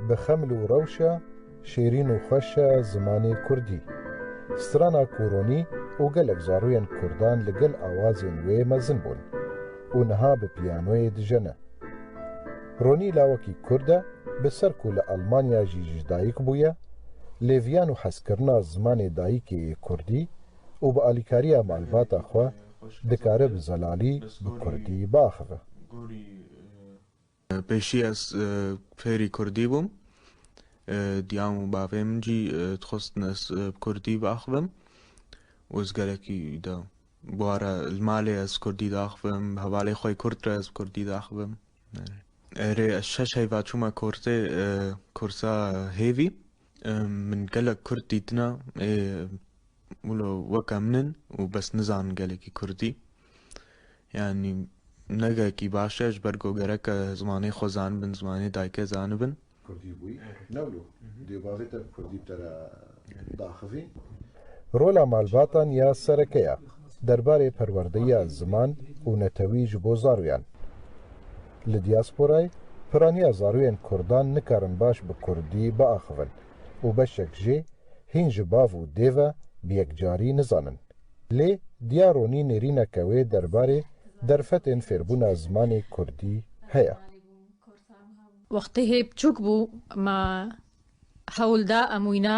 Bi xeml û rewşa şêrîn û xweş e zimanê kurdî. Strana Kûronî û gelek zarûyên kurdan li gel awazên wê mezin bûn û niha bi piyanoyê dijene. Ronî lawekî kurd e, bi ser ku li Elmanya jî ji dayik bûye, lê viyan û hezkirina zimanê dayikê yê kurdî û bi alîkariya malbata xwe dikare bi zelalî bi kurdî biaxive. Pêşî ez fêrî kurdî bûm. Diyam û bavê min jî dixwestin ez bi kurdî biaxivim û ez gelekî da bûara li malê ez kurdî diaxivim, hevalê xwe kurd re ez bi kurdî diaxivim. Erê ez şeş heyva çûme kursê kursa hêvî. Min gelek kurd dîtine ê wilo weke min in û bes nizanin gelekî kurdî. Yanî ne gelekî baş e ji ber ku gereke zimanê xwe zanibin, zimanê dayikê zanibin. Kurdî bûyî ne wilo dê bavê te bi kurdî bi te re biaxivîn. Rola malbatan ya sereke ye derbarê perwerdeya ziman û netewî ji bo zaroyan. Li diasporayê piraniya zarûyên kurdan nikarin baş bi kurdî biaxivin û beşek jê hîn ji bav û dê ve bi yekcarî nizanin. Lê Diya Ronî nêrîneke wê derbarê derfetên fêrbûna zimanê kurdî heye. Wextê hê biçûk bû me hewl da em wîna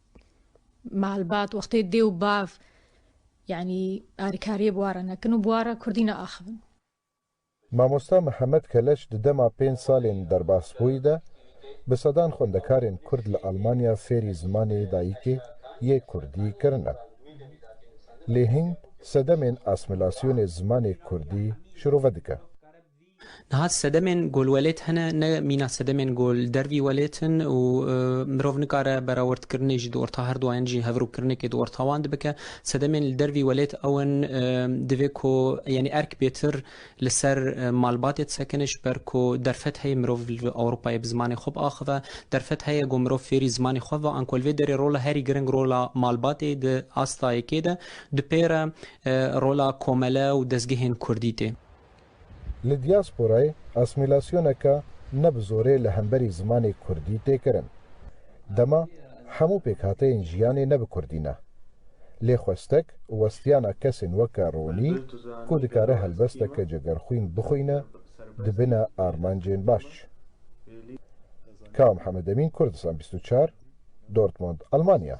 Malbat wextê dê û bav yanî alîkariyê bi wan re nekin û bi wan re kurdî neaxivin. Mamosta Mihemed Keleç di dema pênc salên derbasbûyî de bi sedan xwendekarên kurd li Almanya fêrî zimanê dayikê yê kurdî kirine. Lê hîn sedemên asmîlasyonê zimanê kurdî şirove dike. Niha sedemên golwelêt hene, ne mîna sedemên gol dervî welêt in û mirov nikare berawerdkirinê ji di orta her duayan jî hevrûkirinekê di orta wan de bike. Sedemên li dervî welêt ew in, divê ku yanî erk bêtir li ser malbatê disekine ji ber ku derfet heye mirov li Ewropayê bi zimanê xwe biaxive. Derfet heye ku mirov fêrî zimanê xwe bibe an ku li vê derê rola herî giring rola malbatê di asta yekê de dupêre rola komele û dezgehên kurdî tê. Li diasporayê asmîlasyoneke ne bi zorê li hemberî zimanê kurdî tê kirin. Dema hemû pêkhateyên jiyanê ne bi kurdî ne. Lê xwestek û westiyana kesên weke Ronî ku dikare helbesteke cegerxwîn bixwîne di bine armancên baş. Ka Mihemedemîn Kurdistan bîst û çar, Dortmund, Almanya.